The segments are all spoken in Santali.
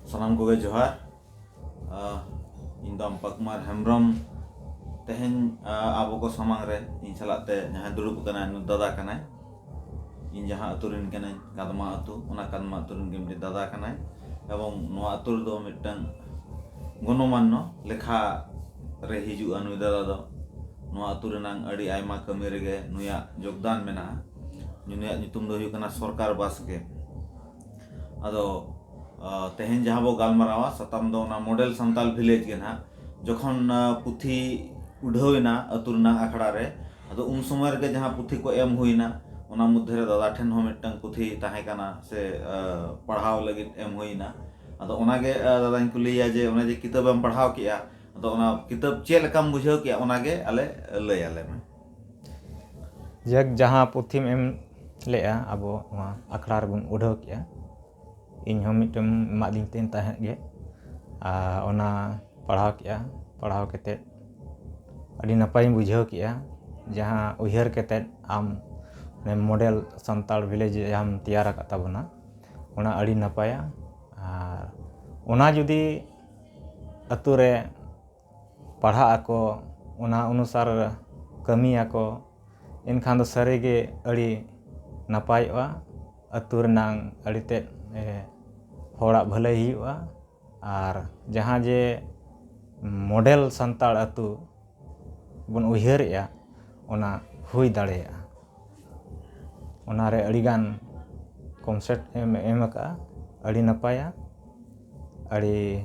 ᱥᱟᱱᱟᱢ ᱠᱚᱜᱮ ᱡᱚᱦᱟᱨ ᱤᱧ ᱫᱚ ᱟᱢᱯᱟ ᱠᱩᱢᱟᱨ ᱦᱮᱢᱵᱨᱚᱢ ᱛᱮᱦᱮᱧ ᱟᱵᱚ ᱠᱚ ᱥᱟᱢᱟᱝ ᱨᱮ ᱤᱧ ᱥᱟᱞᱟᱜ ᱛᱮ ᱡᱟᱦᱟᱸᱭ ᱫᱩᱲᱩᱵ ᱟᱠᱟᱱᱟᱭ ᱩᱱᱤ ᱫᱟᱫᱟ ᱠᱟᱱᱟᱭ ᱤᱧ ᱡᱟᱦᱟᱸ ᱟᱹᱛᱩ ᱨᱮᱱ ᱠᱟᱹᱱᱟᱹᱧ ᱠᱟᱫᱽᱢᱟ ᱟᱹᱛᱩ ᱚᱱᱟ ᱠᱟᱫᱽᱢᱟ ᱟᱹᱛᱩ ᱨᱮᱱ ᱜᱮ ᱢᱤᱫᱴᱤᱡ ᱫᱟᱫᱟ ᱠᱟᱱᱟᱭ ᱮᱵᱚᱝ ᱱᱚᱣᱟ ᱟᱹᱛᱩ ᱨᱮᱫᱚ ᱢᱤᱫᱴᱟᱝ ᱜᱚᱱᱚᱢᱟᱱᱱᱚ ᱞᱮᱠᱷᱟ ᱨᱮ ᱦᱤᱡᱩᱜᱼᱟ ᱱᱩᱭ ᱫᱟᱫᱟ ᱫᱚ ᱱᱚᱣᱟ ᱟᱹᱛᱩ ᱨᱮᱱᱟᱝ ᱟᱹᱰᱤ ᱟᱭᱢᱟ ᱠᱟᱹᱢᱤ ᱨᱮᱜᱮ ᱱᱩᱭᱟᱜ ᱡᱳᱜᱽᱫᱟᱱ ᱢᱮᱱᱟᱜᱼᱟ ᱱᱩᱭᱟᱜ ᱧᱩᱛᱩᱢ ᱫᱚ ᱦᱩᱭᱩᱜ ᱠᱟᱱᱟ ᱥᱚᱨᱠᱟᱨ ᱵᱟᱥᱠᱮ ᱟᱫᱚ ᱛᱮᱦᱮᱧ ᱡᱟᱦᱟᱸ ᱵᱚ ᱜᱟᱞᱢᱟᱨᱟᱣᱟ ᱥᱟᱛᱟᱢ ᱫᱚ ᱚᱱᱟ ᱢᱚᱰᱮᱞ ᱥᱟᱱᱛᱟᱞ ᱵᱷᱤᱞᱮᱡᱽ ᱜᱮ ᱱᱟᱦᱟᱜ ᱡᱚᱠᱷᱚᱱ ᱯᱩᱛᱷᱤ ᱩᱰᱷᱟᱹᱣ ᱮᱱᱟ ᱟᱹᱛᱩ ᱨᱮᱱᱟᱜ ᱟᱠᱷᱲᱟ ᱨᱮ ᱟᱫᱚ ᱩᱱ ᱥᱚᱢᱚᱭ ᱨᱮᱜᱮ ᱡᱟᱦᱟᱸ ᱯᱩᱛᱷᱤ ᱠᱚ ᱮᱢ ᱦᱩᱭᱮᱱᱟ ᱚᱱᱟ ᱢᱚᱫᱽᱫᱷᱮ ᱨᱮ ᱫᱟᱫᱟ ᱴᱷᱮᱱ ᱦᱚᱸ ᱢᱤᱫᱴᱟᱝ ᱯᱩᱛᱷᱤ ᱛᱟᱦᱮᱸ ᱠᱟᱱᱟ ᱥᱮ ᱯᱟᱲᱦᱟᱣ ᱞᱟᱹᱜᱤᱫ ᱮᱢ ᱦᱩᱭᱮᱱᱟ ᱟᱫᱚ ᱚᱱᱟ ᱜᱮ ᱫᱟᱫᱟᱧ ᱠᱩᱞᱤᱭᱮᱭᱟ ᱡᱮ ᱚᱱᱮ ᱡᱮ ᱠᱤᱛᱟᱹᱵᱮᱢ ᱯᱟᱲᱦᱟᱣ ᱠᱮᱫᱼᱟ ᱟᱫᱚ ᱚᱱᱟ ᱠᱤᱛᱟᱹᱵ ᱪᱮᱫ ᱞᱮᱠᱟᱢ ᱵᱩᱡᱷᱟᱹᱣ ᱠᱮᱫᱼᱟ ᱚᱱᱟ ᱜᱮ ᱟᱞᱮ ᱞᱟᱹᱭᱟᱞᱮ ᱢᱮ ᱡᱟᱠ ᱡᱟᱦᱟᱸ ᱯᱩᱛᱷᱤᱢ ᱮᱢ ᱞᱮᱫᱼᱟ ᱟᱵᱚ ᱱᱚᱣᱟ ᱟᱠᱷᱲᱟ ᱨᱮᱵᱚᱱ ᱩᱰᱷᱟᱹᱣ ᱠᱮᱫᱼᱟ ᱤᱧ ᱦᱚᱸ ᱢᱤᱫᱴᱮᱱ ᱮᱢᱟᱜ ᱫᱤᱧ ᱛᱟᱦᱮᱸᱫ ᱛᱟᱦᱮᱸᱫ ᱜᱮ ᱟᱨ ᱚᱱᱟ ᱯᱟᱲᱦᱟᱣ ᱠᱮᱫᱼᱟ ᱯᱟᱲᱦᱟᱣ ᱠᱟᱛᱮᱫ ᱟᱹᱰᱤ ᱱᱟᱯᱟᱭᱤᱧ ᱵᱩᱡᱷᱟᱹᱣ ᱠᱮᱫᱼᱟ ᱡᱟᱦᱟᱸ ᱩᱭᱦᱟᱹᱨ ᱠᱟᱛᱮᱫ ᱟᱢ ᱢᱚᱰᱮᱞ ᱥᱟᱱᱛᱟᱲ ᱵᱷᱤᱞᱮᱡᱽ ᱡᱟᱦᱟᱸᱢ ᱛᱮᱭᱟᱨ ᱟᱠᱟᱫ ᱛᱟᱵᱚᱱᱟ ᱚᱱᱟ ᱟᱹᱰᱤ ᱱᱟᱯᱟᱭᱟ ᱟᱨ ᱚᱱᱟ ᱡᱩᱫᱤ ᱟᱹᱛᱩ ᱨᱮ ᱯᱟᱲᱦᱟᱜ ᱟᱠᱚ ᱚᱱᱟ ᱚᱱᱩᱥᱟᱨ ᱠᱟᱹᱢᱤᱭᱟᱠᱚ ᱮᱱᱠᱷᱟᱱ ᱫᱚ ᱥᱟᱹᱨᱤ ᱜᱮ ᱟᱹᱰᱤ ᱱᱟᱯᱟᱭᱚᱜᱼᱟ ᱟᱹᱛᱩ ᱨᱮᱱᱟᱝ ᱟᱹᱰᱤ ᱛᱮᱫ ᱦᱚᱲᱟᱜ ᱵᱷᱟᱹᱞᱟᱹᱭ ᱦᱩᱭᱩᱜᱼᱟ ᱟᱨ ᱡᱟᱦᱟᱸ ᱡᱮ ᱢᱚᱰᱮᱞ ᱥᱟᱱᱛᱟᱲ ᱟᱹᱛᱩ ᱵᱚᱱ ᱩᱭᱦᱟᱹᱨᱮᱜᱼᱟ ᱚᱱᱟ ᱦᱩᱭ ᱫᱟᱲᱮᱭᱟᱜᱼᱟ ᱚᱱᱟᱨᱮ ᱟᱹᱰᱤᱜᱟᱱ ᱠᱚᱱᱥᱮᱯᱴ ᱮᱢ ᱮᱢ ᱠᱟᱜᱼᱟ ᱟᱹᱰᱤ ᱱᱟᱯᱟᱭᱟ ᱟᱹᱰᱤ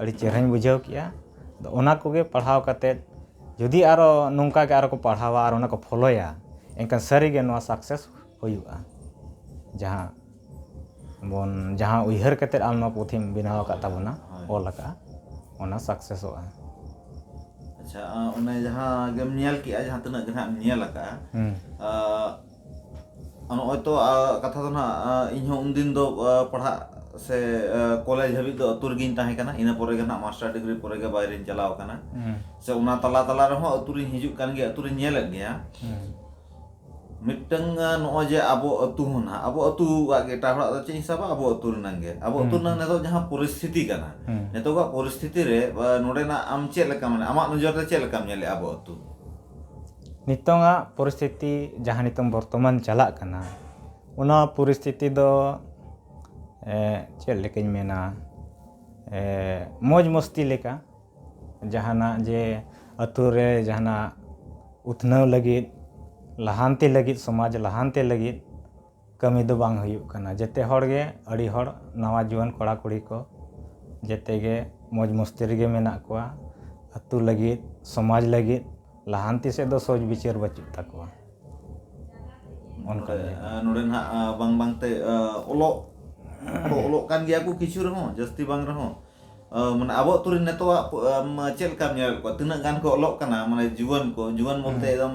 ᱟᱹᱰᱤ ᱪᱮᱦᱨᱟᱧ ᱵᱩᱡᱷᱟᱹᱣ ᱠᱮᱫᱼᱟ ᱟᱫᱚ ᱚᱱᱟ ᱠᱚᱜᱮ ᱯᱟᱲᱦᱟᱣ ᱠᱟᱛᱮᱫ ᱡᱩᱫᱤ ᱟᱨᱚ ᱱᱚᱝᱠᱟ ᱜᱮ ᱟᱨᱚ ᱠᱚ ᱯᱟᱲᱦᱟᱣᱟ ᱟᱨ ᱚᱱᱟ ᱠᱚ ᱯᱷᱳᱞᱳᱭᱟ ᱮᱱᱠᱷᱟᱱ ᱥᱟᱹᱨᱤ ᱜᱮ ᱱᱚᱣᱟ ᱥᱟᱠᱥᱮᱥ ᱦᱩᱭᱩᱜᱼᱟ ᱡᱟᱦᱟᱸ ᱵᱚᱱ ᱡᱟᱦᱟᱸ ᱩᱭᱦᱟᱹᱨ ᱠᱟᱛᱮᱫ ᱟᱢ ᱱᱚᱣᱟ ᱯᱩᱛᱷᱤᱢ ᱵᱮᱱᱟᱣ ᱟᱠᱟᱫ ᱛᱟᱵᱚᱱᱟ ᱚᱞ ᱟᱠᱟᱫᱼᱟ ᱚᱱᱟ ᱥᱟᱠᱥᱮᱥᱚᱜᱼᱟ ᱟᱪᱪᱷᱟ ᱚᱱᱮ ᱡᱟᱦᱟᱸ ᱜᱮᱢ ᱧᱮᱞ ᱠᱮᱫᱼᱟ ᱡᱟᱦᱟᱸ ᱛᱤᱱᱟᱹᱜ ᱜᱮ ᱦᱟᱸᱜ ᱮᱢ ᱧᱮᱞ ᱟᱠᱟᱫᱼᱟ ᱱᱚᱜᱼᱚᱭ ᱛᱚ ᱠᱟᱛᱷᱟ ᱫᱚ ᱱᱟᱦᱟᱜ ᱤᱧ ᱦᱚᱸ ᱩᱱᱫᱤᱱ ᱫᱚ ᱯᱟᱲᱦᱟᱜ ᱥᱮ ᱠᱚᱞᱮᱡᱽ ᱦᱟᱹᱵᱤᱡ ᱫᱚ ᱟᱹᱛᱩ ᱨᱮᱜᱮᱧ ᱛᱟᱦᱮᱸ ᱠᱟᱱᱟ ᱤᱱᱟᱹ ᱯᱚᱨᱮ ᱜᱮ ᱱᱟᱦᱟᱜ ᱢᱟᱥᱴᱟᱨ ᱰᱤᱜᱽᱨᱤ ᱯᱚᱨᱮ ᱜᱮ ᱵᱟᱭᱨᱮᱧ ᱪᱟᱞᱟᱣ ᱟᱠᱟᱱᱟ ᱥᱮ ᱚᱱᱟ ᱛᱟᱞᱟ ᱛᱟᱞᱟ ᱨᱮᱦᱚᱸ ᱟᱹᱛᱩ ᱨᱤᱧ ᱦᱤᱡᱩᱜ ᱠᱟᱱ ᱜᱮᱭᱟ ᱟᱹᱛᱩ ᱨᱤᱧ ᱧᱮᱞᱮᱫ ᱜᱮᱭᱟ ᱢᱤᱫᱴᱟᱹᱝ ᱱᱚᱜᱼᱚᱭ ᱡᱮ ᱟᱵᱚ ᱟᱹᱛᱩ ᱦᱚᱸ ᱱᱟᱦᱟᱜ ᱟᱵᱚ ᱟᱹᱛᱩᱣᱟᱜ ᱜᱮ ᱮᱴᱟᱜ ᱦᱚᱲᱟᱜ ᱫᱚ ᱪᱮᱫ ᱤᱧ ᱥᱟᱵᱟ ᱟᱵᱚ ᱟᱹᱛᱩ ᱨᱮᱱᱟᱝ ᱜᱮ ᱟᱵᱚ ᱟᱹᱛᱩ ᱨᱮᱱᱟᱝ ᱱᱤᱛᱚᱜ ᱡᱟᱦᱟᱸ ᱯᱚᱨᱤᱥᱛᱷᱤᱛᱤ ᱠᱟᱱᱟ ᱱᱤᱛᱚᱜᱟᱜ ᱯᱚᱨᱤᱥᱛᱷᱤᱛᱤ ᱨᱮ ᱱᱚᱰᱮᱱᱟᱜ ᱟᱢ ᱪᱮᱫ ᱞᱮᱠᱟ ᱢᱟᱱᱮ ᱟᱢᱟᱜ ᱱᱚᱡᱚᱨ ᱛᱮ ᱪᱮᱫ ᱞᱮᱠᱟᱢ ᱧᱮᱞᱮᱫᱼᱟ ᱟᱵᱚ ᱟᱹᱛᱩ ᱱᱤᱛᱚᱝ ᱟᱜ ᱯᱚᱨᱤᱥᱛᱷᱤᱛᱤ ᱡᱟᱦᱟᱸ ᱱᱤᱛᱚᱝ ᱵᱚᱨᱛᱚᱢᱟᱱ ᱪᱟᱞᱟᱜ ᱠᱟᱱᱟ ᱚᱱᱟ ᱯᱚᱨᱤᱥᱛᱷᱤᱛᱤ ᱫᱚ ᱪᱮᱫ ᱞᱮᱠᱟᱧ ᱢᱮᱱᱟ ᱢᱚᱡᱽ ᱢᱚᱥᱛᱤ ᱞᱮᱠᱟ ᱡᱟᱦᱟᱱᱟᱜ ᱡᱮ ᱟᱹᱛᱩ ᱨᱮ ᱡᱟᱦᱟᱱᱟᱜ ᱩᱛᱱᱟᱹᱣ ᱞᱟᱹᱜᱤᱫ ᱞᱟᱦᱟᱱᱛᱤ ᱞᱟᱹᱜᱤᱫ ᱥᱚᱢᱟᱡᱽ ᱞᱟᱦᱟᱱᱛᱤ ᱞᱟᱹᱜᱤᱫ ᱠᱟᱹᱢᱤ ᱫᱚ ᱵᱟᱝ ᱦᱩᱭᱩᱜ ᱠᱟᱱᱟ ᱡᱮᱛᱮ ᱦᱚᱲ ᱜᱮ ᱟᱹᱰᱤ ᱦᱚᱲ ᱱᱟᱣᱟ ᱡᱩᱣᱟᱹᱱ ᱠᱚᱲᱟ ᱠᱩᱲᱤ ᱠᱚ ᱡᱮᱛᱮ ᱜᱮ ᱢᱚᱡᱽ ᱢᱚᱥᱛᱤ ᱨᱮᱜᱮ ᱢᱮᱱᱟᱜ ᱠᱚᱣᱟ ᱟᱛᱳ ᱞᱟᱹᱜᱤᱫ ᱥᱚᱢᱟᱡᱽ ᱞᱟᱹᱜᱤᱫ ᱞᱟᱦᱟᱱᱛᱤ ᱥᱮᱫ ᱫᱚ ᱥᱚᱡᱽ ᱵᱤᱪᱟᱹᱨ ᱵᱟᱹᱪᱩᱜ ᱛᱟᱠᱚᱣᱟ ᱚᱱᱠᱟ ᱜᱮ ᱱᱚᱰᱮ ᱱᱟᱜ ᱵᱟᱝ ᱵᱟᱝ ᱛᱮ ᱚᱞᱚᱜ ᱫᱚ ᱚᱞᱚᱜ ᱠᱟᱱ ᱜᱮᱭᱟ ᱠᱚ ᱠᱤᱪᱷᱩ ᱨᱮᱦᱚᱸ ᱡᱟᱹᱥᱛᱤ ᱵᱟᱝ ᱨᱮᱦᱚᱸ ᱢᱟᱱᱮ ᱟᱵᱚ ᱟᱛᱳ ᱨᱮ ᱱᱤᱛᱚᱜ ᱟᱜ ᱪᱮᱫ ᱞᱮᱠᱟᱢ ᱧᱮᱞᱮᱫ ᱠᱚᱣᱟ ᱛᱤᱱᱟᱹᱜ ᱜᱟᱱ ᱠᱚ ᱚᱞᱚᱜ ᱠᱟᱱᱟ ᱢᱟᱱᱮ ᱡᱩᱣᱟᱹᱱ ᱠᱚ ᱡᱩᱣᱟᱹᱱ ᱵᱚᱞᱛᱮ ᱮᱠᱫᱚᱢ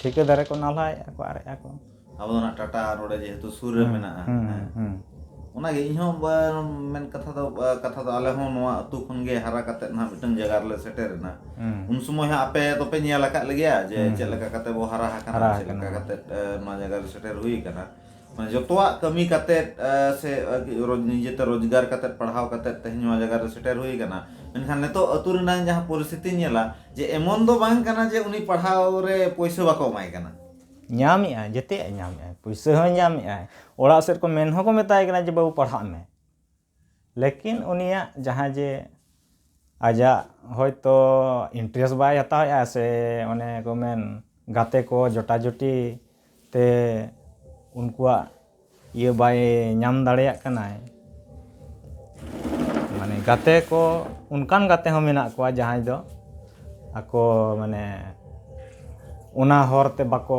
ᱴᱷᱤᱠᱟᱹᱫᱟᱨ ᱮᱠᱚ ᱱᱟᱞᱦᱟᱭᱮᱜᱼᱟ ᱠᱚ ᱟᱨᱮᱜᱼᱟ ᱠᱚ ᱟᱵᱚ ᱫᱚ ᱚᱱᱟ ᱴᱟᱴᱟ ᱱᱚᱰᱮ ᱡᱮᱦᱮᱛᱩ ᱥᱩᱨ ᱨᱮ ᱢᱮᱱᱟᱜᱼᱟ ᱚᱱᱟᱜᱮ ᱤᱧ ᱦᱚᱸ ᱢᱮᱱ ᱠᱟᱛᱷᱟ ᱫᱚ ᱠᱟᱛᱷᱟ ᱫᱚ ᱟᱞᱮ ᱦᱚᱸ ᱱᱚᱣᱟ ᱟᱛᱳ ᱠᱷᱚᱱ ᱜᱮ ᱦᱟᱨᱟ ᱠᱟᱛᱮ ᱱᱟᱦᱟᱜ ᱢᱤᱫᱴᱟᱝ ᱡᱟᱭᱜᱟ ᱨᱮᱞᱮ ᱥᱮᱴᱮᱨ ᱮᱱᱟ ᱩᱱ ᱥᱚᱢᱚᱭ ᱦᱚᱸ ᱟᱯᱮ ᱫᱚᱯᱮ ᱧᱮᱞ ᱟᱠᱟᱫ ᱞᱮᱜᱮᱭᱟ ᱡᱮ ᱪᱮᱫ ᱞᱮᱠᱟ ᱠᱟᱛᱮ ᱵᱚ ᱦᱟᱨᱟ ᱟᱠᱟᱱᱟ ᱪᱮᱫ ᱞᱮᱠᱟ ᱠᱟᱛᱮ ᱱᱚᱣᱟ ᱡᱟᱭᱜᱟ ᱨᱮ ᱥᱮᱴᱮᱨ ᱦᱩᱭ ᱟᱠᱟᱱᱟ ᱢᱟᱱᱮ ᱡᱚᱛᱚᱣᱟᱜ ᱠᱟᱹᱢᱤ ᱠᱟᱛᱮ ᱥᱮ ᱱᱤᱡᱮᱛᱮ ᱨᱳᱡᱽᱜᱟᱨ ᱠᱟᱛᱮ ᱯᱟᱲᱦᱟᱣ ᱠᱟᱛᱮ ᱛᱮᱦᱮᱧ ᱱᱚᱣᱟ ᱡᱟᱭᱜᱟ ᱨᱮ ᱥᱮᱴᱮᱨ ᱦᱩᱭ ᱟᱠᱟᱱᱟ ᱢᱮᱱᱠᱷᱟᱱ ᱱᱤᱛᱚᱜ ᱟᱹᱛᱩ ᱨᱮᱱᱟᱜ ᱡᱟᱦᱟᱸ ᱯᱚᱨᱤᱥᱛᱷᱤᱛᱤᱧ ᱧᱮᱞᱟ ᱡᱮ ᱮᱢᱚᱱ ᱫᱚ ᱵᱟᱝ ᱠᱟᱱᱟ ᱡᱮ ᱩᱱᱤ ᱯᱟᱲᱦᱟᱣ ᱨᱮ ᱯᱩᱭᱥᱟᱹ ᱵᱟᱠᱚ ᱮᱢᱟᱭ ᱠᱟᱱᱟ ᱧᱟᱢᱮᱜᱼᱟᱭ ᱡᱮᱛᱮᱭᱟᱜ ᱧᱟᱢᱮᱜᱼᱟᱭ ᱯᱩᱭᱥᱟᱹ ᱦᱚᱸᱭ ᱧᱟᱢᱮᱜᱼᱟᱭ ᱚᱲᱟᱜ ᱥᱮᱫ ᱠᱚ ᱢᱮᱱ ᱦᱚᱸᱠᱚ ᱢᱮᱛᱟᱭ ᱠᱟᱱᱟ ᱡᱮ ᱵᱟᱹᱵᱩ ᱯᱟᱲᱦᱟᱜ ᱢᱮ ᱞᱮᱠᱤᱱ ᱩᱱᱤᱭᱟᱜ ᱡᱟᱦᱟᱸ ᱡᱮ ᱟᱡᱟᱜ ᱦᱚᱭᱛᱚ ᱤᱱᱴᱨᱮᱥᱴ ᱵᱟᱭ ᱦᱟᱛᱟᱣᱮᱫᱼᱟ ᱥᱮ ᱚᱱᱮ ᱠᱚ ᱢᱮᱱ ᱜᱟᱛᱮ ᱠᱚ ᱡᱚᱴᱟᱡᱚᱴᱤ ᱛᱮ ᱩᱱᱠᱩᱣᱟᱜ ᱤᱭᱟᱹ ᱵᱟᱭ ᱧᱟᱢ ᱫᱟᱲᱮᱭᱟᱜ ᱠᱟᱱᱟᱭ ᱢᱟᱱᱮ ᱜᱟᱛᱮ ᱠᱚ ᱚᱱᱠᱟᱱ ᱜᱟᱛᱮ ᱦᱚᱸ ᱢᱮᱱᱟᱜ ᱠᱚᱣᱟ ᱡᱟᱦᱟᱸᱭ ᱫᱚ ᱟᱠᱚ ᱢᱟᱱᱮ ᱚᱱᱟ ᱦᱚᱨᱛᱮ ᱵᱟᱠᱚ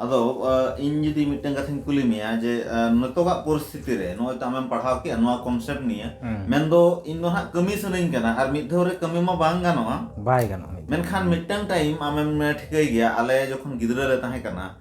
ᱟᱫᱚ ᱤᱧ ᱡᱩᱫᱤ ᱢᱤᱫᱴᱟᱝ ᱠᱟᱛᱷᱟᱧ ᱠᱩᱞᱤ ᱢᱮᱭᱟ ᱡᱮ ᱱᱤᱛᱚᱜᱟᱜ ᱯᱚᱨᱤᱥᱛᱷᱤᱛᱤ ᱨᱮ ᱱᱚᱜᱼᱚᱭ ᱛᱚ ᱟᱢᱮᱢ ᱯᱟᱲᱦᱟᱣ ᱠᱮᱜᱼᱟ ᱱᱚᱣᱟ ᱠᱚᱱᱥᱮᱯᱴ ᱱᱤᱭᱮ ᱢᱮᱱᱫᱚ ᱤᱧ ᱫᱚ ᱦᱟᱸᱜ ᱠᱟᱹᱢᱤ ᱥᱟᱱᱟᱧ ᱠᱟᱱᱟ ᱟᱨ ᱢᱤᱫ ᱫᱷᱟᱣ ᱨᱮ ᱠᱟᱹᱢᱤ ᱢᱟ ᱵᱟᱝ ᱜᱟᱱᱚᱜᱼᱟ ᱵᱟᱭ ᱜᱟᱱᱚᱜᱼᱟ ᱢᱮᱱᱠᱷᱟᱱ ᱢᱤᱫᱴᱟᱝ ᱴᱟᱭᱤᱢ ᱟᱢᱮᱢ ᱴᱷᱤᱠᱟᱹᱭ ᱜᱮᱭᱟ ᱟᱞᱮ ᱡᱚᱠᱷᱚᱱ ᱜᱤᱫᱽᱨᱟᱹ ᱞᱮ ᱛᱟᱦᱮᱸ ᱠᱟᱱᱟ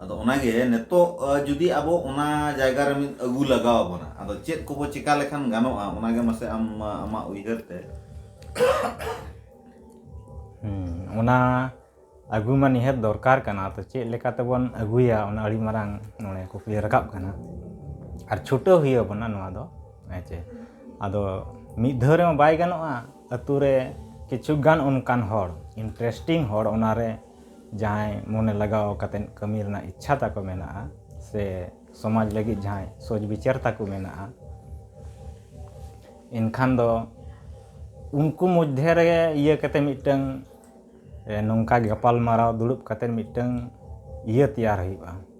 ᱟᱫᱚ ᱚᱱᱟᱜᱮ ᱱᱤᱛᱚᱜ ᱡᱩᱫᱤ ᱟᱵᱚ ᱚᱱᱟ ᱡᱟᱭᱜᱟ ᱨᱮ ᱢᱤᱫ ᱟᱹᱜᱩ ᱞᱟᱜᱟᱣ ᱵᱚᱱᱟ ᱟᱫᱚ ᱪᱮᱫ ᱠᱚᱵᱚ ᱪᱮᱠᱟ ᱞᱮᱠᱷᱟᱱ ᱜᱟᱱᱚᱜᱼᱟ ᱚᱱᱟᱜᱮ ᱢᱟᱥᱮ ᱟᱢ ᱟᱢᱟᱜ ᱩᱭᱦᱟᱹᱨ ᱛᱮ ᱚᱱᱟ ᱟᱹᱜᱩ ᱢᱟ ᱱᱤᱦᱟᱹᱛ ᱫᱚᱨᱠᱟᱨ ᱠᱟᱱᱟ ᱛᱚ ᱪᱮᱫ ᱞᱮᱠᱟ ᱛᱮᱵᱚᱱ ᱟᱹᱜᱩᱭᱟ ᱚᱱᱟ ᱟᱹᱰᱤ ᱢᱟᱨᱟᱝ ᱱᱚᱰᱮ ᱠᱩᱠᱞᱤ ᱨᱟᱠᱟᱵ ᱠᱟᱱᱟ ᱟᱨ ᱪᱷᱩᱴᱟᱹᱣ ᱦᱩᱭ ᱟᱵᱚᱱᱟ ᱱᱚᱣᱟ ᱫᱚ ᱦᱮᱸ ᱪᱮ ᱟᱫᱚ ᱢᱤᱫ ᱫᱷᱟᱣ ᱨᱮᱢᱟ ᱵᱟᱭ ᱜᱟᱱᱚᱜᱼᱟ ᱟᱹᱛᱩ ᱨᱮ ᱠᱤᱪᱷᱩ ᱜᱟᱱ ᱚᱱᱠᱟᱱ ᱦᱚᱲ ᱤᱱᱴᱟᱨᱮᱥᱴᱤᱝ ᱦᱚᱲ ᱚᱱᱟᱨᱮ ᱡᱟᱦᱟᱸᱭ ᱢᱚᱱᱮ ᱞᱟᱜᱟᱣ ᱠᱟᱛᱮᱫ ᱠᱟᱹᱢᱤ ᱨᱮᱱᱟᱜ ᱤᱪᱪᱷᱟ ᱛᱟᱠᱚ ᱢᱮᱱᱟᱜᱼᱟ ᱥᱮ ᱥᱚᱢᱟᱡᱽ ᱞᱟᱹᱜᱤᱫ ᱡᱟᱦᱟᱸᱭ ᱥᱚᱡᱽ ᱵᱤᱪᱟᱹᱨ ᱛᱟᱠᱚ ᱢᱮᱱᱟᱜᱼᱟ ᱮᱱᱠᱷᱟᱱ ᱫᱚ ᱩᱱᱠᱩ ᱢᱚᱫᱽᱫᱷᱮ ᱨᱮ ᱤᱭᱟᱹ ᱠᱟᱛᱮᱫ ᱢᱤᱫᱴᱟᱹᱝ ᱱᱚᱝᱠᱟ ᱜᱟᱯᱟᱞᱢᱟᱨᱟᱣ ᱫᱩᱲᱩᱵ ᱠᱟᱛᱮᱫ ᱢᱤᱫᱴᱟᱹᱝ ᱤᱭᱟᱹ ᱛᱮᱭᱟᱨ ᱦᱩᱭᱩᱜᱼᱟ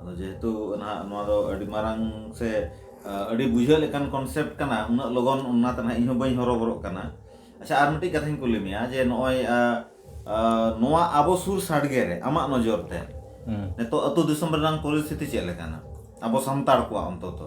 ᱟᱫᱚ ᱡᱮᱦᱮᱛᱩ ᱱᱟᱦᱟᱜ ᱱᱚᱣᱟ ᱫᱚ ᱟᱹᱰᱤ ᱢᱟᱨᱟᱝ ᱥᱮ ᱟᱹᱰᱤ ᱵᱩᱡᱷᱟᱹᱜ ᱞᱮᱠᱟᱱ ᱠᱚᱱᱥᱮᱯᱴ ᱠᱟᱱᱟ ᱩᱱᱟᱹᱜ ᱞᱚᱜᱚᱱ ᱚᱱᱟᱛᱮ ᱱᱟᱦᱟᱜ ᱤᱧ ᱦᱚᱸ ᱵᱟᱹᱧ ᱦᱚᱨᱚᱵᱚᱨᱚᱜ ᱠᱟᱱᱟ ᱟᱪᱪᱷᱟ ᱟᱨ ᱢᱤᱫᱴᱤᱡ ᱠᱟᱛᱷᱟᱧ ᱠᱩᱞᱤ ᱢᱮᱭᱟ ᱡᱮ ᱱᱚᱜᱼᱚᱭ ᱱᱚᱣᱟ ᱟᱵᱚ ᱥᱩᱨ ᱥᱟᱰᱜᱮ ᱨᱮ ᱟᱢᱟᱜ ᱱᱚᱡᱚᱨ ᱛᱮ ᱱᱤᱛᱚᱜ ᱟᱹᱛᱩ ᱫᱤᱥᱚᱢ ᱨᱮᱱᱟᱜ ᱯᱚᱨᱤᱥᱛᱷᱤᱛᱤ ᱪᱮᱫ ᱞᱮᱠᱟᱱᱟ ᱟᱵᱚ ᱥᱟᱱᱛᱟᱲ ᱠᱚᱣᱟᱜ ᱚᱱᱛᱚᱛᱚ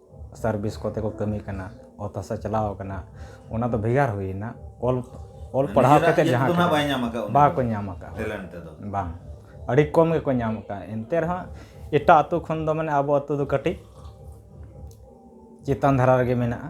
ᱥᱟᱨᱵᱷᱤᱥ ᱠᱚᱛᱮ ᱠᱚ ᱠᱟᱹᱢᱤ ᱠᱟᱱᱟ ᱚᱛ ᱦᱟᱥᱟ ᱪᱟᱞᱟᱣ ᱟᱠᱟᱱᱟ ᱚᱱᱟ ᱫᱚ ᱵᱷᱮᱜᱟᱨ ᱦᱩᱭᱮᱱᱟ ᱚᱞ ᱚᱞ ᱯᱟᱲᱦᱟᱣ ᱱᱤᱡᱮᱨᱟᱜ ᱠᱟᱛᱮ ᱤᱭᱟᱹ ᱡᱟᱦᱟᱸ ᱫᱚ ᱱᱟᱦᱟᱜ ᱵᱟᱭ ᱧᱟᱢ ᱟᱠᱟᱫ ᱩᱱᱤ ᱵᱟᱠᱚ ᱫᱚ᱾ ᱧᱟᱢ ᱟᱠᱟᱫ ᱴᱮᱞᱮᱱᱴ ᱛᱮᱫᱚ ᱵᱟᱝ ᱟᱹᱰᱤ ᱠᱚᱢ ᱜᱮᱠᱚ ᱧᱟᱢ ᱟᱠᱟᱫᱼᱟ ᱮᱱᱛᱮ ᱨᱮᱦᱚᱸ ᱮᱴᱟᱜ ᱟᱹᱛᱩ ᱠᱷᱚᱱ ᱫᱚ ᱢᱟᱱᱮ ᱟᱵᱚ ᱟᱹᱛᱩ ᱫᱚ ᱠᱟᱹᱴᱤᱡ ᱪᱮᱛᱟᱱ ᱫᱷᱟᱨᱟ ᱨᱮᱜᱮ ᱢᱮᱱᱟᱜᱼᱟ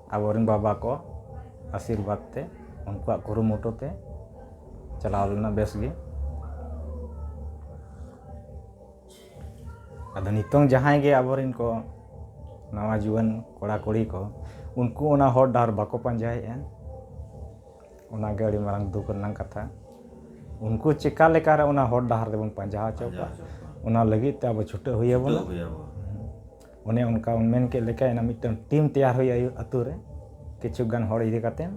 ᱟᱵᱚ ᱨᱮᱱ ᱵᱟᱵᱟ ᱠᱚ ᱟᱥᱤᱨᱵᱟᱫᱽ ᱛᱮ ᱩᱱᱠᱩᱣᱟᱜ ᱠᱩᱨᱩᱢᱩᱴᱩ ᱛᱮ ᱪᱟᱞᱟᱣ ᱞᱮᱱᱟ ᱵᱮᱥ ᱜᱮ ᱟᱫᱚ ᱱᱤᱛᱚᱝ ᱡᱟᱦᱟᱸᱭ ᱜᱮ ᱟᱵᱚ ᱨᱮᱱ ᱠᱚ ᱱᱟᱣᱟ ᱡᱩᱣᱟᱹᱱ ᱠᱚᱲᱟ ᱠᱩᱲᱤ ᱠᱚ ᱩᱱᱠᱩ ᱚᱱᱟ ᱦᱚᱨ ᱰᱟᱦᱟᱨ ᱵᱟᱠᱚ ᱯᱟᱸᱡᱟᱭᱮᱫᱼᱟ ᱚᱱᱟ ᱜᱮ ᱟᱹᱰᱤ ᱢᱟᱨᱟᱝ ᱫᱩᱠ ᱨᱮᱱᱟᱜ ᱠᱟᱛᱷᱟ ᱩᱱᱠᱩ ᱪᱤᱠᱟᱹ ᱞᱮᱠᱟ ᱨᱮ ᱚᱱᱟ ᱦᱚᱨ ᱰᱟᱦᱟᱨ ᱫᱚᱵᱚᱱ ᱯᱟᱸᱡᱟ ᱦᱚᱪᱚ ᱠᱚᱣᱟ ᱚᱱᱟ ᱞᱟᱹᱜᱤᱫ ᱛᱮ ᱟᱵᱚ ᱪᱷᱩᱴᱟᱹᱣ ᱦᱩᱭ ᱟᱵᱚᱱᱟ ᱚᱱᱮ ᱚᱱᱠᱟ ᱵᱚᱱ ᱢᱮᱱ ᱠᱮᱫ ᱞᱮᱠᱟ ᱚᱱᱟ ᱢᱤᱫᱴᱟᱝ ᱴᱤᱢ ᱛᱮᱭᱟᱨ ᱦᱩᱭᱩᱜᱼᱟ ᱟᱹᱛᱩ ᱨᱮ ᱠᱤᱪᱷᱩ ᱜᱟᱱ ᱦᱚᱲ ᱤᱫᱤ ᱠᱟᱛᱮᱫ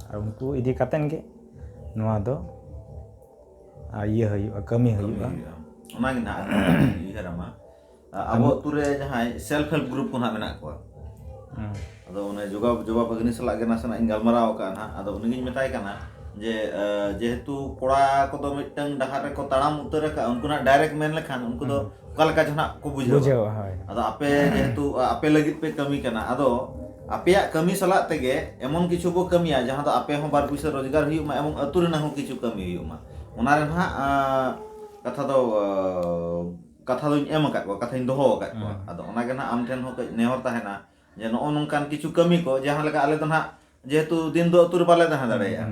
ᱟᱨ ᱩᱱᱠᱩ ᱤᱫᱤ ᱠᱟᱛᱮᱫ ᱜᱮ ᱱᱚᱣᱟ ᱫᱚ ᱤᱭᱟᱹ ᱦᱩᱭᱩᱜᱼᱟ ᱠᱟᱹᱢᱤ ᱦᱩᱭᱩᱜᱼᱟ ᱚᱱᱟᱜᱮ ᱱᱟᱜ ᱩᱭᱦᱟᱹᱨ ᱟᱢᱟ ᱟᱵᱚ ᱟᱹᱛᱩ ᱨᱮ ᱡᱟᱦᱟᱸᱭ ᱥᱮᱞᱯᱷ ᱦᱮᱞᱯ ᱜᱨᱩᱯ ᱠᱚ ᱱᱟᱜ ᱢᱮᱱᱟᱜ ᱠᱚᱣᱟ ᱟᱫᱚ ᱚᱱᱮ ᱡᱚᱜᱟ ᱡᱚᱜᱟ ᱵᱷᱟᱹᱜᱽᱱᱤ ᱥᱟᱞᱟᱜ ᱜᱮ ᱱᱟᱥᱮᱱᱟᱜ ᱤᱧ ᱜᱟᱞᱢᱟᱨᱟᱣ ᱟᱠᱟᱫᱼᱟ ᱱᱟᱦᱟᱜ ᱟᱫᱚ ᱩᱱᱤᱜᱤᱧ ᱢᱮᱛᱟᱭ ᱠᱟᱱᱟ ᱡᱮ ᱡᱮᱦᱮᱛᱩ ᱠᱚᱲᱟ ᱠᱚᱫᱚ ᱢᱤᱫᱴᱟᱝ ᱰᱟᱦᱟᱨ ᱨᱮᱠᱚ ᱛᱟᱲᱟᱢ ᱩᱛᱟᱹᱨ ᱟᱠᱟᱫᱼᱟ ᱩᱱᱠᱩ ᱱᱟᱦᱟᱜ ᱰᱟᱭᱨᱮᱠᱴ ᱢᱮᱱ ᱞᱮᱠᱷᱟᱱ ᱩᱱᱠᱩ ᱫᱚ ᱚᱠᱟ ᱞᱮᱠᱟ ᱪᱚ ᱱᱟᱦᱟᱜ ᱠᱚ ᱵᱩᱡᱷᱟᱹᱣᱟ ᱵᱩᱡᱷᱟᱹᱣᱟ ᱦᱳᱭ ᱟᱫᱚ ᱟᱯᱮ ᱡᱮᱦᱮᱛᱩ ᱟᱯᱮ ᱞᱟᱹᱜᱤᱫ ᱯᱮ ᱠᱟᱹᱢᱤ ᱠᱟᱱᱟ ᱟᱫᱚ ᱟᱯᱮᱭᱟᱜ ᱠᱟᱹᱢᱤ ᱥᱟᱞᱟᱜ ᱛᱮᱜᱮ ᱮᱢᱚᱱ ᱠᱤᱪᱷᱩ ᱵᱚ ᱠᱟᱹᱢᱤᱭᱟ ᱡᱟᱦᱟᱸ ᱫᱚ ᱟᱯᱮ ᱦᱚᱸ ᱵᱟᱨ ᱯᱩᱭᱥᱟᱹ ᱨᱳᱡᱽᱜᱟᱨ ᱦᱩᱭᱩᱜ ᱢᱟ ᱮᱵᱚᱝ ᱟᱹᱛᱩ ᱨᱮᱱᱟᱜ ᱦᱚᱸ ᱠᱤᱪᱷᱩ ᱠᱟᱹᱢᱤ ᱦᱩᱭᱩᱜ ᱢᱟ ᱚᱱᱟ ᱨᱮ ᱱᱟᱦᱟᱜ ᱠᱟᱛᱷᱟ ᱫᱚ ᱠᱟᱛᱷᱟ ᱫᱚᱧ ᱮᱢ ᱟᱠᱟᱫ ᱠᱚᱣᱟ ᱠᱟᱛᱷᱟᱧ ᱫᱚᱦᱚ ᱟᱠᱟᱫ ᱠᱚᱣᱟ ᱟᱫᱚ ᱚᱱᱟᱜᱮ ᱱᱟᱦᱟᱜ ᱟᱢ ᱴᱷᱮᱱ ᱦᱚᱸ ᱠᱟᱹᱡ ᱱᱮᱦᱚᱨ ᱛᱟᱦᱮᱱᱟ ᱡᱮ ᱱᱚᱜᱼᱚ ᱱᱚᱝᱠᱟᱱ ᱠᱤᱪᱷᱩ ᱠᱟᱹᱢᱤ ᱠᱚ ᱡᱟᱦᱟᱸ ᱞᱮᱠᱟ ᱟᱞᱮ ᱫᱚ ᱱᱟᱦᱟᱜ ᱡᱮᱦᱮᱛᱩ ᱫᱤᱱ ᱫᱚ ᱟᱹᱛᱩ ᱨᱮ ᱵᱟᱞᱮ ᱛᱟᱦᱮᱸ ᱫᱟᱲᱮᱭᱟᱜᱼᱟ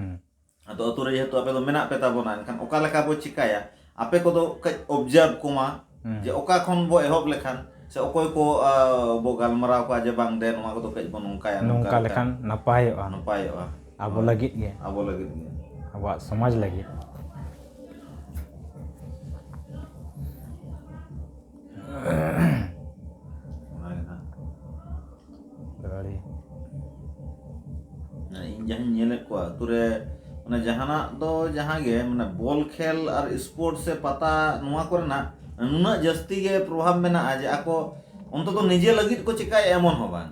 ᱟᱫᱚ ᱟᱹᱛᱩ ᱨᱮ ᱡᱮᱦᱮᱛᱩ ᱟᱯᱮ ᱫᱚ ᱢᱮᱱᱟᱜ ᱯᱮ ᱛᱟᱵᱚᱱᱟ ᱮᱱᱠᱷᱟᱱ ᱚᱠᱟ ᱞᱮᱠᱟ ᱵᱚ ᱪᱤᱠᱟᱹᱭᱟ ᱟᱯᱮ ᱠᱚᱫᱚ ᱠᱟᱹᱡ ᱚᱵᱽᱡᱟᱨᱵᱷ ᱠᱚᱢᱟ ᱡᱮ ᱚᱠᱟ ᱠᱷᱚᱱ ᱵᱚ ᱮᱦᱚᱵ ᱞᱮᱠᱷᱟᱱ ᱥᱮ ᱚᱠᱚᱭ ᱠᱚ ᱵᱚ ᱜᱟᱞᱢᱟᱨᱟᱣ ᱠᱚᱣᱟ ᱡᱮ ᱵᱟᱝ ᱫᱮ ᱱᱚᱣᱟ ᱠᱚᱫᱚ ᱠᱟᱹᱡ ᱵᱚ ᱱᱚᱝᱠᱟᱭᱟ ᱱᱚᱝᱠᱟ ᱞᱮᱠᱷᱟᱱ ᱱᱟᱯᱟᱭᱚᱜᱼᱟ ᱱᱟᱯᱟᱭᱚᱜᱼᱟ ᱟᱵᱚ ᱞᱟᱹᱜᱤᱫ ᱜᱮ ᱟᱵᱚ ᱞᱟᱹᱜᱤᱫ ᱜᱮ ᱟᱵᱚᱣᱟᱜ ᱥᱚᱢᱟᱡᱽ ᱞᱟᱹᱜᱤᱫ ᱜᱟᱹᱲᱤ ᱤᱧ ᱡᱟᱦᱟᱸᱧ ᱧᱮᱞᱮᱫ ᱠᱚᱣᱟ ᱟᱹᱛᱩ ᱨᱮ ᱢᱟᱱᱮ ᱡᱟᱦᱟᱱᱟᱜ ᱫᱚ ᱡᱟᱦᱟᱸ ᱜᱮ ᱢᱟᱱᱮ ᱵᱚᱞ ᱠᱷᱮᱞ ᱟᱨ ᱥᱯᱳᱨᱴ ᱥᱮ ᱯᱟᱛᱟ ᱱᱚᱣᱟ ᱠᱚᱨᱮᱱᱟᱜ ᱱᱩᱱᱟᱹᱜ ᱡᱟᱹᱥᱛᱤ ᱜᱮ ᱯᱨᱚᱵᱷᱟᱵᱽ ᱢᱮᱱᱟᱜᱼᱟ ᱡᱮ ᱟᱠᱚ ᱚᱱᱛᱚᱛᱚ ᱱᱤᱡᱮ ᱞᱟᱹᱜᱤᱫ ᱠᱚ ᱪᱤᱠᱟᱹᱭᱮᱫᱼᱟ ᱮᱢᱚᱱ ᱦᱚᱸ ᱵᱟᱝ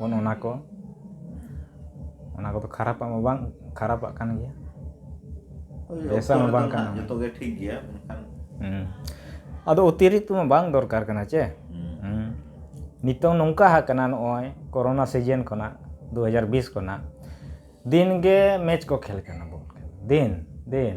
ᱚᱱᱮ ᱚᱱᱟ ᱠᱚ ᱚᱱᱟ ᱠᱚᱫᱚ ᱠᱷᱟᱨᱟᱯᱟᱜ ᱢᱟ ᱵᱟᱝ ᱠᱷᱟᱨᱟᱯᱟᱜ ᱠᱟᱱ ᱜᱮᱭᱟ ᱵᱮᱥᱟᱜ ᱢᱟ ᱵᱟᱝ ᱠᱟᱱᱟ ᱡᱚᱛᱚ ᱜᱮ ᱴᱷᱤᱠ ᱜᱮᱭᱟ ᱢᱮᱱᱠᱷᱟᱱ ᱟᱫᱚ ᱚᱛᱤᱨᱤᱠᱛᱚ ᱢᱟ ᱵᱟᱝ ᱫᱚᱨᱠᱟᱨ ᱠᱟᱱᱟ ᱪᱮ ᱱᱤᱛᱚᱝ ᱱᱚᱝᱠᱟ ᱟᱠᱟᱱᱟ ᱱᱚᱜᱼᱚᱭ ᱠᱚᱨᱳᱱᱟ ᱥᱤᱡᱤᱱ ᱠᱷᱚᱱᱟᱜ ᱫᱩ ᱦᱟᱡᱟᱨ ᱵᱤᱥ ᱠᱷᱚᱱᱟᱜ ᱫᱤᱱ ᱜᱮ ᱢᱮᱪ ᱠᱚ ᱠᱷᱮᱞ ᱠᱟᱱᱟ ᱵᱚᱞ ᱠᱷᱮᱞ ᱫᱤᱱ ᱫᱤᱱ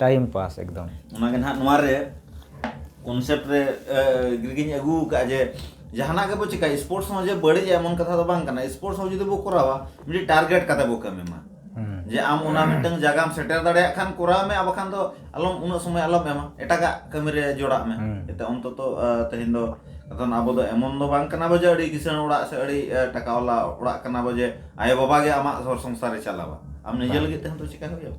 ᱴᱟᱭᱤᱢ ᱯᱟᱥ ᱮᱠᱫᱚᱢ ᱚᱱᱟᱜᱮ ᱱᱟᱦᱟᱜ ᱱᱚᱣᱟ ᱨᱮ ᱠᱚᱱᱥᱮᱯᱴ ᱨᱮ ᱜᱤᱧ ᱟᱹᱜᱩ ᱟᱠᱟᱫᱼᱟ ᱡᱮ ᱡᱟᱦᱟᱱᱟᱜ ᱜᱮᱵᱚ ᱪᱤᱠᱟᱹᱭᱟ ᱥᱯᱳᱨᱴᱥ ᱦᱚᱸ ᱡᱮ ᱵᱟᱹᱲᱤᱡᱼᱟ ᱮᱢᱚᱱ ᱠᱟᱛᱷᱟ ᱫᱚ ᱵᱟᱝ ᱠᱟᱱᱟ ᱥᱯᱳᱨᱴᱥ ᱦᱚᱸ ᱡᱩᱫᱤ ᱵᱚ ᱠᱚᱨᱟᱣᱟ ᱢᱤᱫᱴᱤᱡ ᱴᱟᱨᱜᱮᱴ ᱠᱟᱛᱮ ᱵᱚ ᱠᱟᱹᱢᱤ ᱢᱟ ᱡᱮ ᱟᱢ ᱚᱱᱟ ᱢᱤᱫᱴᱟᱝ ᱡᱟᱭᱜᱟᱢ ᱥᱮᱴᱮᱨ ᱫᱟᱲᱮᱭᱟᱜ ᱠᱷᱟᱱ ᱠᱚᱨᱟᱣ ᱢᱮ ᱟᱨ ᱵᱟᱠᱷᱟᱱ ᱫᱚ ᱟᱞᱚᱢ ᱩᱱᱟᱹᱜ ᱥᱚᱢᱚᱭ ᱟᱞᱚᱢ ᱮᱢᱟ ᱮᱴᱟᱜᱟᱜ ᱠᱟᱹᱢᱤ ᱨᱮ ᱡᱚᱲᱟᱜ ᱢᱮ ᱡᱟᱛᱮ ᱚᱱᱛᱚᱛᱚ ᱛᱮᱦᱮᱧ ᱫᱚ ᱠᱟᱨᱚᱱ ᱟᱵᱚ ᱫᱚ ᱮᱢᱚᱱ ᱫᱚ ᱵᱟᱝ ᱠᱟᱱᱟ ᱵᱚ ᱡᱮ ᱟᱹᱰᱤ ᱠᱤᱥᱟᱹᱬ ᱚᱲᱟᱜ ᱥᱮ ᱟᱹᱰᱤ ᱴᱟᱠᱟ ᱵᱟᱞᱟ ᱚᱲᱟᱜ ᱠᱟᱱᱟ ᱵᱚ ᱡᱮ ᱟᱭᱳ ᱵᱟᱵᱟ ᱜᱮ ᱟᱢᱟᱜ ᱜᱷᱚᱨ ᱥᱚᱝᱥᱟᱨᱮ ᱪᱟᱞᱟᱣᱟ ᱟᱢ ᱱᱤᱡᱮ ᱞᱟᱹᱜᱤᱫ ᱛᱮᱦᱚᱸ ᱛᱚ ᱪᱤᱠᱟᱹᱭ ᱦᱩᱭᱩᱜᱼᱟ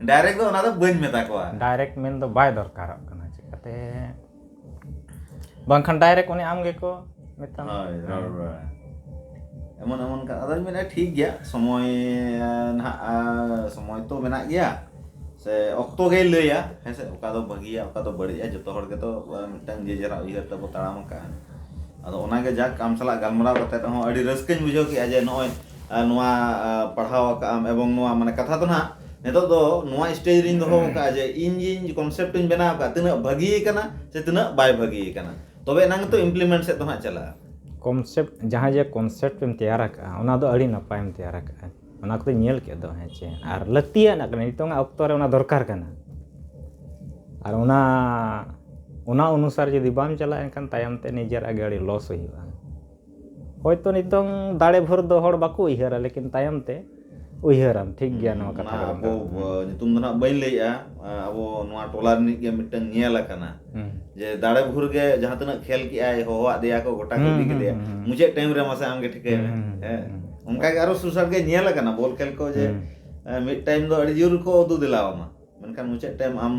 ᱰᱟᱭᱨᱮᱠᱴ ᱫᱚ ᱚᱱᱟ ᱫᱚ ᱵᱟᱹᱧ ᱢᱮᱛᱟ ᱠᱚᱣᱟ ᱰᱟᱭᱨᱮᱠᱴ ᱢᱮᱱ ᱫᱚ ᱵᱟᱭ ᱫᱚᱨᱠᱟᱨᱚᱜ ᱠᱟᱱᱟ ᱪᱤᱠᱟᱹᱛᱮ ᱵᱟᱝᱠᱷᱟᱱ ᱰᱟᱭᱨᱮᱠᱴ ᱩᱱᱤ ᱟᱢ ᱜᱮᱠᱚ ᱢᱮᱛᱟᱢ ᱦᱳᱭ ᱨᱚᱲ ᱵᱟᱲᱟ ᱮᱢᱚᱱ ᱮᱢᱚᱱ ᱠᱟᱛᱷᱟ ᱟᱫᱚᱧ ᱢᱮᱱᱟ ᱴᱷᱤᱠ ᱜᱮᱭᱟ ᱥᱚᱢᱚᱭ ᱱᱟᱦᱟᱜ ᱥᱚᱢᱚᱭ ᱛᱚ ᱢᱮᱱᱟᱜ ᱜᱮᱭᱟ ᱥᱮ ᱚᱠᱛᱚ ᱜᱮᱭ ᱞᱟᱹᱭᱟ ᱦᱮᱸ ᱥᱮ ᱚᱠᱟ ᱫᱚ ᱵᱷᱟᱹᱜᱤᱭᱟ ᱚᱠᱟ ᱫᱚ ᱵᱟᱹᱲᱤᱡᱼᱟ ᱡᱚᱛᱚ ᱦᱚᱲ ᱜᱮᱛᱚ ᱢᱤᱫᱴᱟᱝ ᱡᱮ ᱡᱟᱨᱟᱜ ᱩᱭᱦᱟᱹᱨ ᱛᱮᱵᱚ ᱛᱟᱲᱟᱢ ᱟᱠᱟᱫᱼᱟ ᱟᱫᱚ ᱚᱱᱟᱜᱮ ᱡᱟᱠ ᱟᱢ ᱥᱟᱞᱟᱜ ᱜᱟᱞᱢᱟᱨᱟᱣ ᱠᱟᱛᱮᱫ ᱦᱚᱸ ᱟᱹᱰᱤ ᱨᱟᱹᱥᱠᱟᱹᱧ ᱵᱩᱡᱷᱟᱹᱣ ᱠᱮᱫᱼᱟ ᱡᱮ ᱱᱚᱜᱼᱚᱭ ᱱᱚᱣᱟ ᱯᱟᱲᱦᱟᱣ ᱟᱠᱟᱫ ᱟᱢ ᱮᱵᱚᱝ ᱱᱚᱣᱟ ᱢᱟᱱᱮ ᱠᱟᱛᱷᱟ ᱫᱚ ᱱᱟᱦᱟᱜ ᱱᱤᱛᱚᱜ ᱫᱚ ᱱᱚᱣᱟ ᱥᱴᱮᱡᱽ ᱨᱮᱧ ᱫᱚᱦᱚ ᱟᱠᱟᱫᱼᱟ ᱡᱮ ᱤᱧ ᱜᱤᱧ ᱠᱚᱱᱥᱮᱯᱴ ᱤᱧ ᱵᱮᱱᱟᱣ ᱟᱠᱟᱫᱼᱟ ᱛᱤᱱᱟᱹᱜ ᱵᱷᱟᱹᱜᱤ ᱟᱠᱟᱱᱟ ᱥᱮ ᱛᱤᱱᱟᱹᱜ ᱵᱟᱭ ᱵᱷᱟᱹᱜᱤ ᱟᱠᱟᱱᱟ ᱛᱚᱵᱮ ᱮᱱᱟᱝ ᱜᱮᱛᱚ ᱤᱢᱯᱞᱤᱢᱮᱱᱴ ᱥᱮᱫ ᱫᱚ ᱱᱟᱦᱟᱜ ᱪᱟᱞᱟᱜᱼᱟ ᱠᱚᱱᱥᱮᱯᱴ ᱡᱟᱦᱟᱸ ᱡᱮ ᱠᱚᱱᱥᱮᱯᱴ ᱮᱢ ᱛᱮᱭᱟᱨ ᱟᱠᱟᱫᱼᱟ ᱚᱱᱟ ᱫᱚ ᱟᱹᱰᱤ ᱱᱟᱯᱟᱭ ᱮᱢ ᱛᱮᱭᱟᱨ ᱟᱠᱟᱫᱼᱟ ᱚᱱᱟ ᱠᱚᱫᱚᱧ ᱧᱮᱞ ᱠᱮᱫ ᱫᱚ ᱦᱮᱸ ᱪᱮ ᱟᱨ ᱞᱟᱹᱠᱛᱤᱭᱟᱱᱟᱜ ᱠᱟᱱᱟ ᱱᱤᱛᱚᱜ ᱟᱜ ᱚᱠᱛᱚ ᱨᱮ ᱚᱱᱟ ᱫᱚᱨᱠᱟᱨ ᱠᱟᱱᱟ ᱟᱨ ᱚᱱᱟ ᱚᱱᱟ ᱚᱱᱩᱥᱟᱨ ᱡᱩᱫᱤ ᱵᱟᱢ ᱪᱟᱞᱟᱜᱼᱟ ᱮᱱᱠᱷᱟᱱ ᱛᱟᱭᱚᱢ ᱛᱮ ᱱᱤᱡᱮᱨᱟᱜ ᱜᱮ ᱟᱹᱰᱤ ᱞᱚᱥ ᱦᱩᱭᱩᱜᱼᱟ ᱦᱚᱭᱛᱚ ᱱᱤᱛᱚᱝ ᱫᱟᱲᱮ ᱵᱷᱳᱨ ᱫᱚ ᱦᱚᱲ ᱵᱟᱠᱚ ᱩᱭᱦᱟᱹᱨᱟ ᱞᱮᱠᱤᱱ ᱛᱟᱭᱚᱢ ᱛᱮ ᱩᱭᱦᱟᱹᱨᱟᱢ ᱴᱷᱤᱠ ᱜᱮᱭᱟ ᱱᱚᱣᱟ ᱠᱟᱛᱷᱟ ᱚᱱᱟ ᱠᱟᱱᱟ ᱟᱵᱚ ᱟᱸ, ᱧᱩᱛᱩᱢ ᱫᱚ ᱱᱟᱜ ᱵᱟᱹᱧ ᱞᱟᱹᱭᱮᱜᱼᱟ ᱟᱸ, ᱟᱵᱚ ᱱᱚᱣᱟ ᱴᱚᱞᱟ ᱨᱤᱱᱤᱡ ᱜᱮ ᱢᱤᱫᱴᱟᱝ ᱧᱮᱞ ᱟᱠᱟᱱᱟ ᱦᱩᱸ᱾ ᱡᱮ ᱫᱟᱲᱮ ᱵᱷᱩᱨ ᱜᱮ ᱡᱟᱦᱟᱸ ᱛᱤᱱᱟᱹᱜ ᱠᱷᱮᱞ ᱠᱮᱜᱼᱟᱭ ᱦᱚᱦᱚᱣᱟᱜ ᱫᱮᱭᱟ ᱠᱚ ᱜᱚᱴᱟ ᱠᱚ ᱦᱩᱸ, ᱤᱫᱤ ᱦᱩᱸ, ᱠᱮᱫᱮᱭᱟ ᱦᱩᱸ, ᱦᱩᱸ᱾ ᱢᱩᱪᱟᱹᱫ ᱴᱟᱭᱤᱢ ᱨᱮ ᱢᱟᱥᱮ ᱟᱢᱜᱮ ᱴᱷᱤᱠᱟᱹᱭ ᱢᱮ ᱦᱩᱸ, ᱦᱩᱸ, ᱦᱮᱸ ᱦᱩᱸ, ᱦᱩᱸ᱾ ᱚᱱᱠᱟᱜᱮ ᱟᱨᱚ ᱥᱩᱨ ᱥᱟᱴ ᱜᱮ ᱧᱮᱞ ᱟᱠᱟᱱᱟ ᱵᱚᱞ ᱠᱷᱮᱞ ᱠᱚ ᱡᱮ ᱦᱩᱸ᱾ ᱟᱸ, ᱢᱤᱫ ᱴᱟᱭᱤᱢ ᱫᱚ ᱟᱹᱰᱤ ᱡᱳᱨ ᱠᱚ ᱩᱫᱩ ᱫᱮᱞᱟᱣᱟᱢᱟ ᱢᱮᱱᱠᱷᱟᱱ ᱢᱩᱪᱟᱹᱫ ᱴᱟᱭᱤᱢ ᱟᱢ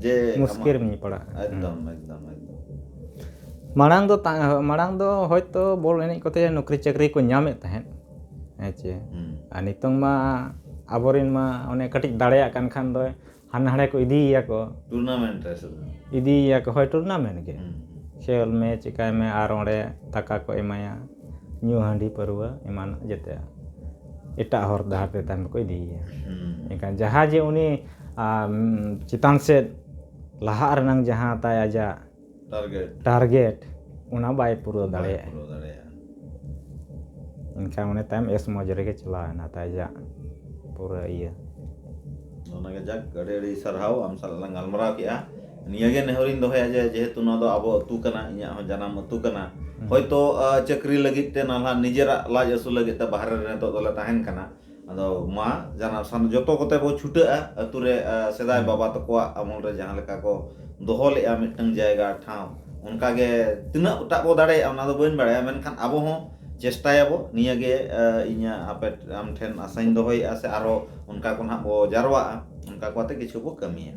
ᱡᱮ ᱢᱩᱥᱠᱤᱞ ᱨᱮᱢ ᱯᱟᱲᱟᱜᱼᱟ ᱮᱠᱫᱚᱢ ᱮᱠᱫᱚᱢ ᱮᱠᱫᱚᱢ ᱢᱟᱲᱟᱝ ᱫᱚ ᱢᱟᱲᱟᱝ ᱫᱚ ᱦᱚᱭᱛᱳ ᱵᱚᱞ ᱮᱱᱮᱡ ᱠᱚᱛᱮ ᱱᱩᱠᱨᱤ ᱪᱟᱹᱠᱨᱤ ᱠᱚ ᱧᱟᱢᱮᱫ ᱛᱟᱦᱮᱸᱫ ᱦᱮᱸ ᱪᱮ ᱟᱨ ᱱᱤᱛᱚᱝ ᱢᱟ ᱟᱵᱚᱨᱮᱱ ᱢᱟ ᱚᱱᱮ ᱠᱟᱹᱴᱤᱡ ᱫᱟᱲᱮᱭᱟᱜ ᱠᱟᱱ ᱠᱷᱟᱱ ᱫᱚ ᱦᱟᱱᱟ ᱦᱟᱸᱰᱮ ᱠᱚ ᱤᱫᱤᱭᱮᱭᱟ ᱠᱚ ᱴᱩᱨᱱᱟᱢᱮᱱᱴ ᱨᱮ ᱤᱫᱤᱭᱮᱭᱟ ᱠᱚ ᱦᱳᱭ ᱴᱩᱨᱱᱟᱢᱮᱱᱴ ᱜᱮ ᱠᱷᱮᱞ ᱢᱮ ᱪᱤᱠᱟᱹᱭ ᱢᱮ ᱟᱨ ᱚᱸᱰᱮ ᱴᱟᱠᱟ ᱠᱚ ᱮᱢᱟᱭᱟ ᱧᱩ ᱦᱟᱺᱰᱤ ᱯᱟᱹᱨᱣᱟᱹ ᱮᱢᱟᱱ ᱡᱮᱛᱮ ᱮᱴᱟᱜ ᱦᱚᱨ ᱰᱟᱦᱟᱨ ᱛᱮ ᱛᱟᱭᱚᱢ ᱛᱮᱠᱚ ᱤᱫᱤᱭᱮᱭᱟ ᱮᱱᱠᱷᱟᱱ ᱡᱟᱦᱟᱸ ᱡᱮ ᱩᱱᱤ ᱪᱮᱛᱟᱱ ᱥᱮᱫ ᱞᱟᱦᱟᱜ ᱨᱮᱱᱟᱜ ᱡᱟᱦᱟᱸ ᱛᱟᱭ ᱟᱡᱟᱜ ᱴᱟᱨᱜᱮᱴ ᱚᱱᱟ ᱵᱟᱭ ᱯᱩᱨᱟᱹᱣ ᱫᱟᱲᱮᱭᱟᱜᱼᱟ ᱮᱱᱠᱷᱟᱱ ᱩᱱᱤ ᱛᱟᱭᱚᱢ ᱮᱥ ᱢᱚᱡᱽ ᱨᱮᱜᱮ ᱪᱟᱞᱟᱣᱮᱱᱟ ᱛᱟᱭ ᱟᱡᱟᱜ ᱯᱩᱨᱟᱹ ᱤᱭᱟᱹ ᱚᱱᱟᱜᱮ ᱡᱟᱠ ᱟᱹᱰᱤ ᱟᱹᱰᱤ ᱥᱟᱨᱦᱟᱣ ᱟᱢ ᱥᱟᱞᱟᱜ ᱞᱟᱝ ᱜᱟᱞᱢᱟᱨᱟᱣ ᱠᱮᱫᱼᱟ ᱱᱤᱭᱟᱹ ᱜᱮ ᱱᱮᱦᱚᱨ ᱤᱧ ᱫᱚᱦᱚᱭᱟ ᱡᱮ ᱡᱮᱦᱮᱛᱩ ᱱᱚᱣᱟ ᱫᱚ ᱟᱵᱚ ᱟᱹᱛᱩ ᱠᱟᱱᱟ ᱤᱧᱟᱹᱜ ᱦᱚᱸ ᱡᱟᱱᱟᱢ ᱟᱹᱛᱩ ᱠᱟᱱᱟ ᱦᱚᱭᱛᱚ ᱪᱟᱹᱠᱨᱤ ᱞᱟᱹᱜᱤᱫ ᱛᱮ ᱱᱟᱞᱦᱟ ᱱᱤᱡᱮᱨᱟᱜ ᱞᱟᱡ ᱟᱹᱥᱩᱞ ᱞᱟᱹᱜᱤᱫ ᱛᱮ ᱵᱟᱦᱨᱮ ᱨᱮ ᱱᱤᱛᱚᱜ ᱫᱚᱞᱮ ᱛᱟᱦᱮᱱ ᱠᱟᱱᱟ ᱟᱫᱚ ᱢᱟ ᱡᱟᱱᱟᱢ ᱥᱟᱱ ᱡᱚᱛᱚ ᱠᱚᱛᱮ ᱵᱚ ᱪᱷᱩᱴᱟᱹᱜᱼᱟ ᱟᱹᱛᱩ ᱨᱮ ᱥᱮᱫᱟᱭ ᱵᱟᱵᱟ ᱛᱟᱠᱚᱣᱟᱜ ᱟᱢᱚᱞ ᱨᱮ ᱡᱟᱦᱟᱸ ᱞᱮᱠᱟ ᱠᱚ ᱫᱚᱦᱚ ᱞᱮᱜᱼᱟ ᱢᱤᱫᱴᱟᱝ ᱡᱟᱭᱜᱟ ᱴᱷᱟᱶ ᱚᱱᱠᱟ ᱜᱮ ᱛᱤᱱᱟᱹᱜ ᱴᱟᱜ ᱵᱚ ᱫᱟᱲᱮᱭᱟᱜᱼᱟ ᱚᱱᱟ ᱫᱚ ᱵᱟᱹᱧ ᱵᱟᱲᱟᱭᱟ ᱢᱮᱱᱠᱷᱟᱱ ᱟᱵᱚ ᱦᱚᱸ ᱪᱮᱥᱴᱟᱭᱟ ᱵᱚ ᱱᱤᱭᱟᱹ ᱜᱮ ᱤᱧᱟᱹᱜ ᱟᱯᱮ ᱟᱢ ᱴᱷᱮᱱ ᱟᱥᱟᱧ ᱫᱚᱦᱚᱭᱮᱜᱼᱟ ᱥᱮ ᱟᱨᱚ ᱚᱱᱠᱟ ᱠᱚ ᱱᱟᱜ ᱵᱚ ᱡᱟᱨᱣᱟᱜᱼᱟ ᱚᱱᱠᱟ ᱠᱚ ᱟᱛᱮ ᱠᱤᱪᱷᱩ ᱵᱚ ᱠᱟᱹᱢᱤᱭᱟ